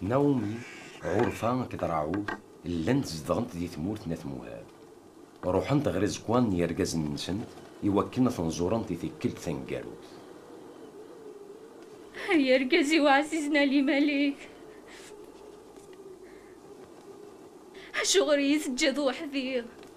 Naumi, Ɣurfa akked Raɛud llant zedɣent di tmurt n At Muhab. Ruḥent ɣer iẓekwan n yergazen-nsent i wakken ad ten-ẓurent i tikkelt taneggarut. Ay argaz-iw ɛzizen Ali Malik! Acuɣer i yi-teǧǧiḍ weḥd-i?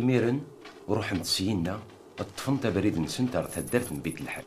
Imiren, ruḥent syinna, ṭṭfent abrid-nsent ar taddart n Bit-Lḥal.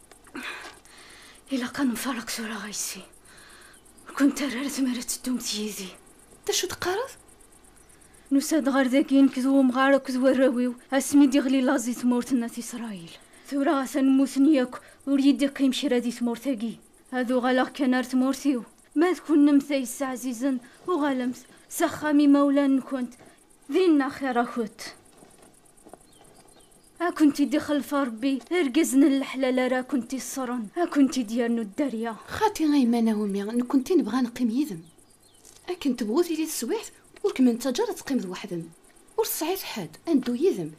Ilaq ad nfareq tura ɣaysi. Ur kent ara ara tmir ad teddumt yid-i. D acu d-teqqareḍ? Nusa-d ɣer dagi nekk d umɣar akked warraw-iw asmi d-iɣli laẓ di tmurt n At Isṛayil. Tura atan mmuten yakk, ur yi-d-iqqim kra di tmurt-agi. Ad uɣaleɣ kan ar tmurt-iw. Ma d kennemt ay yesseɛzizen, uɣalemt s axxam imawlan-nwent, dinna axir-akent. A kent-id-ixlef Ṛebbi irgazen n leḥlal ara kent-iṣṣren, a kent-id-yernu dderya. Xaṭi a yemma Naomi, nekkenti nebɣa a neqqim yid-m. Akken tebɣu tili teswiɛt, ur kem-nettaǧǧa ara ad teqqimeḍ weḥd-m. Ur tesɛiḍ ḥedd, a neddu yid-m.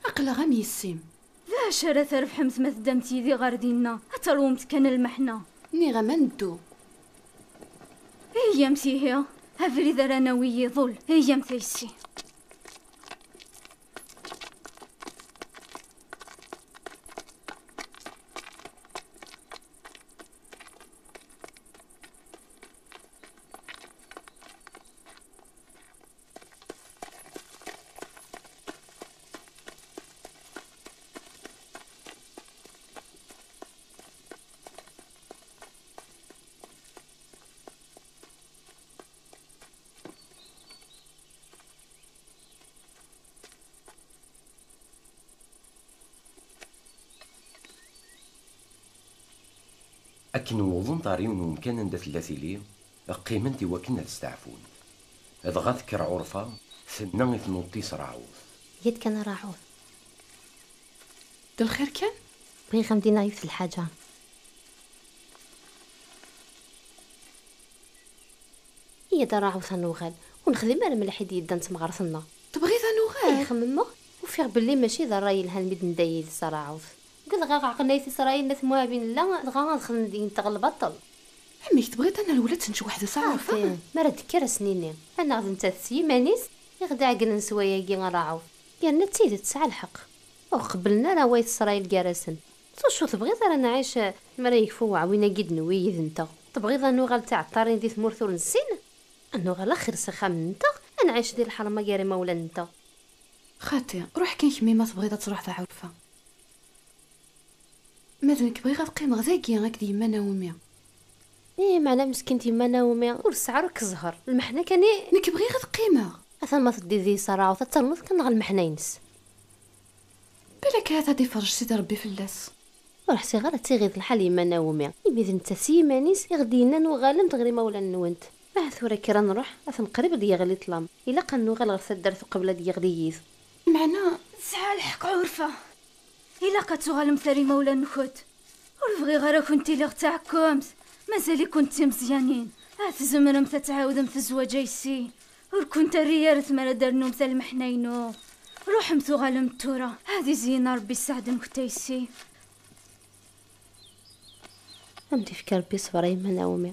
Aql-aɣ am yessi-m. D acu ara trebḥemt ma teddamt yid-i ɣer dinna? Ad teṛwumt kan lmeḥna. Nniɣ-am ad neddu. Heyyamt ihi! Abrid ara nawi iḍul. Heyyamt a yessi. Akken wwḍent ɣer yiwen umkan anda tella tili, Qqiment i wakken ad steɛfunt. Dɣa tekker Ɛurfa, tenna i tnuḍt-is Raɛut. Yya-d kan a Raɛut. D lxir kan? Bɣiɣ ad m-d-iniɣ yiwet n lḥaǧa. Yya-d a Raɛut ad nuɣal. Ur nexdim ara mliḥ i d-yeddan d temɣart-nneɣ. Tebɣiḍ ad nuɣal? Ih, xemmemeɣ. Ufiɣ belli mačči d rray yelhan mi d-nedda yid-s a Raɛut. Uggadeɣ a Ɛeqen Ayt Isṛayil n At Muɛab i nella, dɣa ad xedmen deg-nteɣ lbaṭel. Amek, tebɣiḍ ad nerwel ad tennečč weḥd-s a Raɛuf? Aɛfan, mi ara d-tekker ad sen-ini, anaɣ d nettat s yiman-is i ɣ-d-iɛeggnen s wayagi a Raɛuf? Yerna d tidet tesɛa lḥeqq, ur ɣ-qebblen ara wayt Srayil gar-asen. S wacu tebɣiḍ ara nɛic mi ara yekfu uɛwin-agi d-newwi yid-nteɣ? Tebɣiḍ ad nuɣal d tiɛeṭṭarin di tmurt ur nessin? Ad nuɣal axir s axxam-nteɣ, ad nɛic di lḥerma gar imawlan-nteɣ. Xaṭi, ruḥ kan kemmi ma tebɣiḍ ad truḥeḍ a Ɛurfa. Ma d nekk bɣiɣ ad qqimeɣ dagi akked yemma Naomi. Ih, meɛna meskint yemma Naomi ur tesɛi ara akk zzher, lmeḥna kan i. Nekk bɣiɣ ad qqimeɣ. Atan ma teddiḍ di Isaraut ad ternuḍ kan neɣ lmeḥna-ines. Balak ahat ad iferrej Sidi Rebbi fell-as. Ur ḥṣiɣ ara d tiɣiḍ lḥal yemma Naomi, imi d nettat s yiman-is i ɣ-d-yennan uɣalemt ɣer imawlan-nwent. Ahat tura kker ad nruḥ, atan qrib ad d-yeɣli ṭlam, ilaq ad nuɣal ɣer taddart uqbel ad d-yeɣli yiḍ. Meɛna tesɛa lḥeqq Ɛurfa. Ilaq ad tuɣalemt ar imawlan-nkent. Ur bɣiɣ ara ad kent-iliɣ d taɛekkemt. Mazal-ikent d timeẓyanin, ahat tzemremt ad tɛawdemt zzwaǧ ayes-i. Ur kent-terri ara tmara ad d-ternumt a lmeḥna-inu. Ruḥemt uɣalemt tura. Ad izeyyen Ṛebbi sseɛd-nkent ayes-i. Ad m-d-ifk Ṛebbi ṣṣber a yemma Naomi.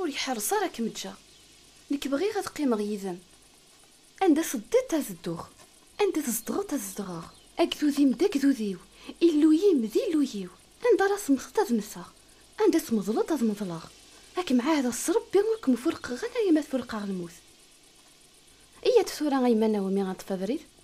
Ur iḥerreṣ ara ad kem-ǧǧeɣ. Nekk bɣiɣ ad qqimeɣ yid-m. Anda teddiḍ ad dduɣ. Anda tzedɣeḍ ad zedɣeɣ. Agdud-im d agdud-iw. Illu-yim d Illu-yiw. Anda ara temmteḍ ad mmteɣ. Anda tmeḍleḍ ad meḍleɣ. Ad kem-ɛahdeɣ s Rebbi ur kem-furqeɣ alayama tfurqeɣ lmut. Iyya-d tura a yemma Naomi ad neṭṭef abrid.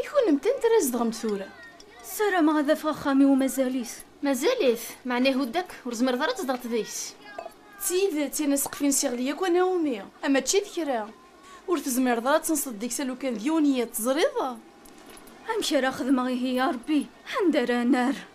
I kunemti antra i zedɣemt tura? Sarameɣ ad afeɣ axxam iw mazal-it. Mazal-it? Meɛna ihudd akk, ur tzemreḍ ara ad tzedɣeḍ deg-s. D tidet, yerna sqef ines iɣli yakk anawmi, a mačči d kra. Ur tezmireḍ ara ad tenseḍ deg-s alukan d yiwen yiḍ, teẓriḍ? Amek ara xedmeɣ ihi a Rebbi, anda ara nerr?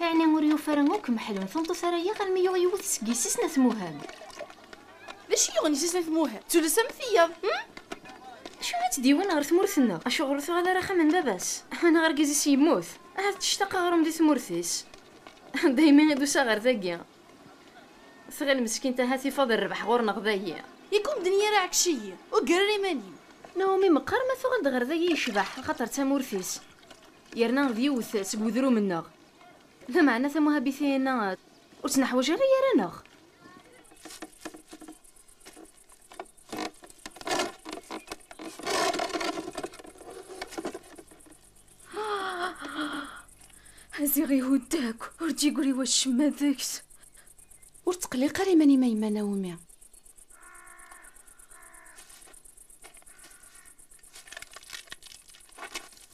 Ɛni ur yufi ara akk Meḥlu n tmeṭṭut ara yaɣ almi yuɣ yiwet seg yessi-s n At Muhend? D acu i yuɣen yessi-s n At Muhend? D tullas am tiyaḍ, hum? D acu ara tt-d-yawin ɣer tmurt-nneɣ? Acuɣer ur tuɣal ara axxam n baba-s? Neɣ argaz-is yemmut? Ahat tectaq aɣrum di tmurt-is? Daymi i d-usiɣ ɣer dagi. Tɣil meskint ahat ifaḍ rrbeḥ ɣur-neɣ dagi. Yak ur medden i ara ɛekc-iyi. Ur ggar ara iman-im. Naomi meqqar ma tuɣal-d ɣer dagi yecbeḥ axaṭer d tamurt-is. Yerna d yiwet seg wedrum-nneɣ. Lameɛna tamuhabitiyin-a ur tt-neḥwaǧ ara gar-aneɣ. Ziɣ ihudd akk, ur d-yeggri wacemma deg-s. Ur tqelliq ara iman-im a yemma Naomi.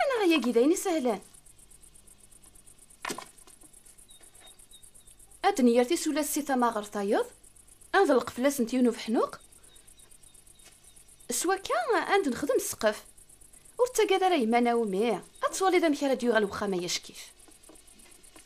Anaɣ yagi d ayen isehlen. Ad d-nyer tisulas si tama ɣer tayeḍ, ad nḍelleq fell-asent yiwen ubeḥnuq, s wakka ad d-nexdem ssqef. Ur ttagad ara yemma Naomi, ad twaliḍ amek ara d-yuɣal wexxam-a yackif.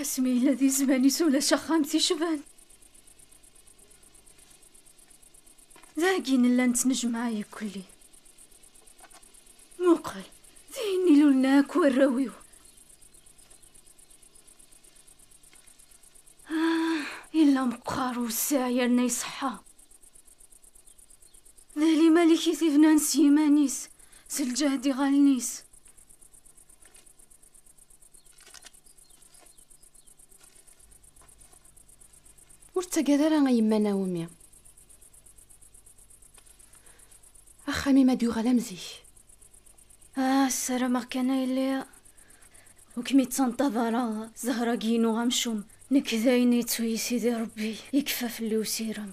asmi yella di zzman-is ulac axxam ticban dagi nella nettnejmaɛ ikulli muqel d ayen ilulna akk warraw-iw ah, yella meqqar wessiɛ yerna iṣeḥḥa d alimalik i t-ibnan s yiman-is s lǧehd iɣallen-is Ur ttagad ara a yemma Naomi. Axxam-im ad yuɣal am zik. Ah, ssarameɣ kan ay lliɣ. Ur kem-ittaneṭṭab ara Zahra-agi-inu amcum. Nekk d ayen yettu-yi Sidi Rebbi, yekfa fell-i usirem.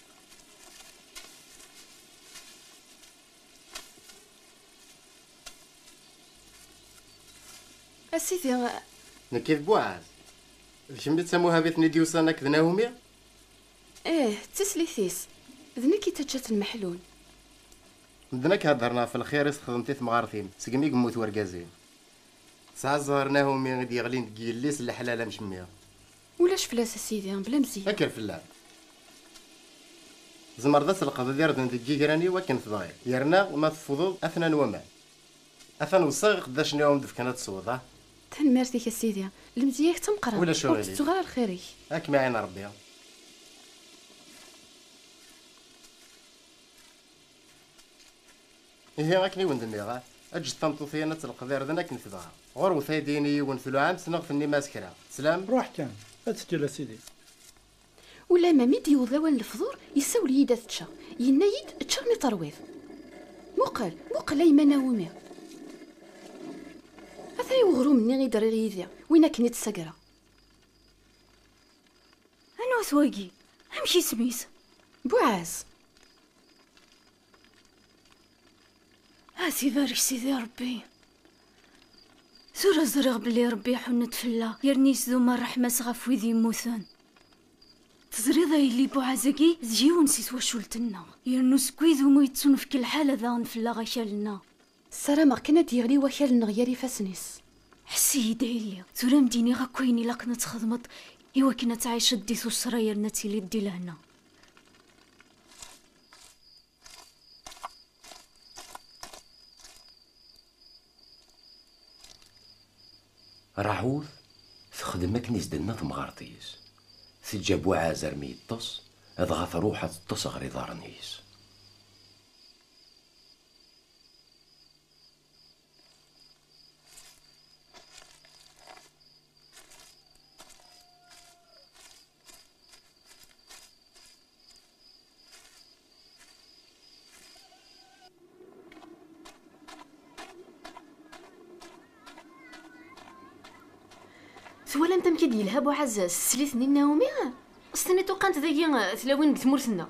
A sidi... Nekk i d Buɛaz. D kemm i d tamuhabit n Idyusan akked Nahumi? Ih, d tislit-is. D nekk i taǧǧat n Meḥlun. Medden akk heddren ɣef lxir i s-texdem ti temɣart-im segmi i yemmut wergaz-im. Tesɛa zzher Nahumi i d-yeɣlin deg yelli-s n leḥlal amcemmiɣ. Ulac fell-as a sidi, bla mzeyya. Kker fell-a. Tzemreḍ ad tleqḍeḍ irden deg yigran-iw akken tebɣiḍ, yerna ma teffudeḍ atnan waman. Atan weṣṣiɣ iqeddacen i awen-d-fkan ad tesweḍ, ah! Tanemmirt-ik a sidi, lemzeyya-k d tameqqrant, Ulac ur aɣilif. tettuɣ ara lxir-ik. Ad kem-iɛin Rebbi. Ihi akken i wen-d-nniɣ, eǧǧet tameṭṭut-in ad telqed irden akken tebɣa. Ɣurwet aydi-in i yiwen tluɛamt neɣ tennim-as kra. Teslam? Ruḥ kan, ad teǧǧel a sidi. Ulamma mi d-yewweḍ lawan n lefḍur, yessawel-iyi-d ad ččeɣ. Yenna-yi-d, Ečč armi terwiḍ. Muqel, muqel a yemma Naomi. Ata i weɣrum-nni i d-rriɣ yid-i, win akken i d-ssagreɣ. Anwa-t wagi? Amek isem-is? Buɛaz. Ati barek sidi Rebbi. Tura ẓriɣ belli Rebbi iḥunn-d fell-aɣ yerna yesdum ṛṛeḥma-s ɣef wid yemmuten. Teẓriḍ a yelli Buɛaz-agi d yiwen si twacult-nneɣ, yernu seg wid umi yettunefk lḥala daɣen fell-aɣ akal-nneɣ. Ssarameɣ kan ad d-yeɣli wakal-nneɣ ger ifassen-is. Ḥess-iyi-d a yelli, tura ad m-d-iniɣ akk ayen ilaqen ad txedmeḍ iwakken ad tɛiceḍ di tuṣṣra yerna ad tiliḍ di lehna. Raḥut texdem akken i s-d-tenna temɣart-is. Teǧǧa Buɛaz armi yeṭṭes, dɣa truḥ ad teṭṭes ɣer iḍarren-is. Twalam amek i d-yelha Buɛazaz s teslit-nni n Naomi? S-tenniḍ uqant dagi tlawin deg tmurt-nneɣ.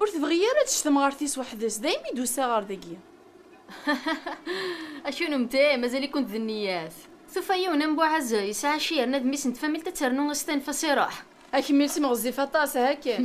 Ur tebɣi ara ad tečč temɣart-is weḥd-s, daymi i d-usiɣ ɣer dagi. A kennemti, mazal-ikent d nniyat. Tufa yiwen am Buɛaz, yesɛa cci yerna d mmi-s n tfamilt ad ternu ad s-tanef-as iruḥ. A kemmilsim ɣezzif aṭas, aha kan.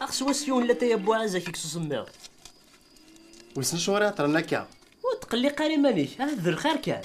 Axs was yiwen la taya buɛaz ak s usemmiḍ. Wissen acuɣer i ɛeṭṭren akka? Ur tqelliq ara iman-ik, ahat d lxir kan.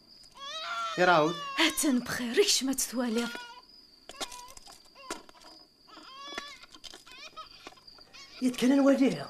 Irawd. Atan bxir, kcem ad twaliḍ. Yet kan ad waliɣ.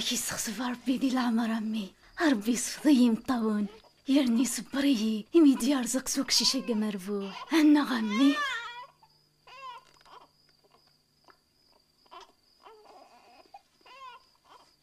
Ak isexsef Rebbi di leɛmer a mmi. Rebbi isfeḍ-iyi imeṭṭawen. Yerni isebber-iyi imi d-yerẓeq s uqcic agi amerbuḥ. Annaɣ a mmi.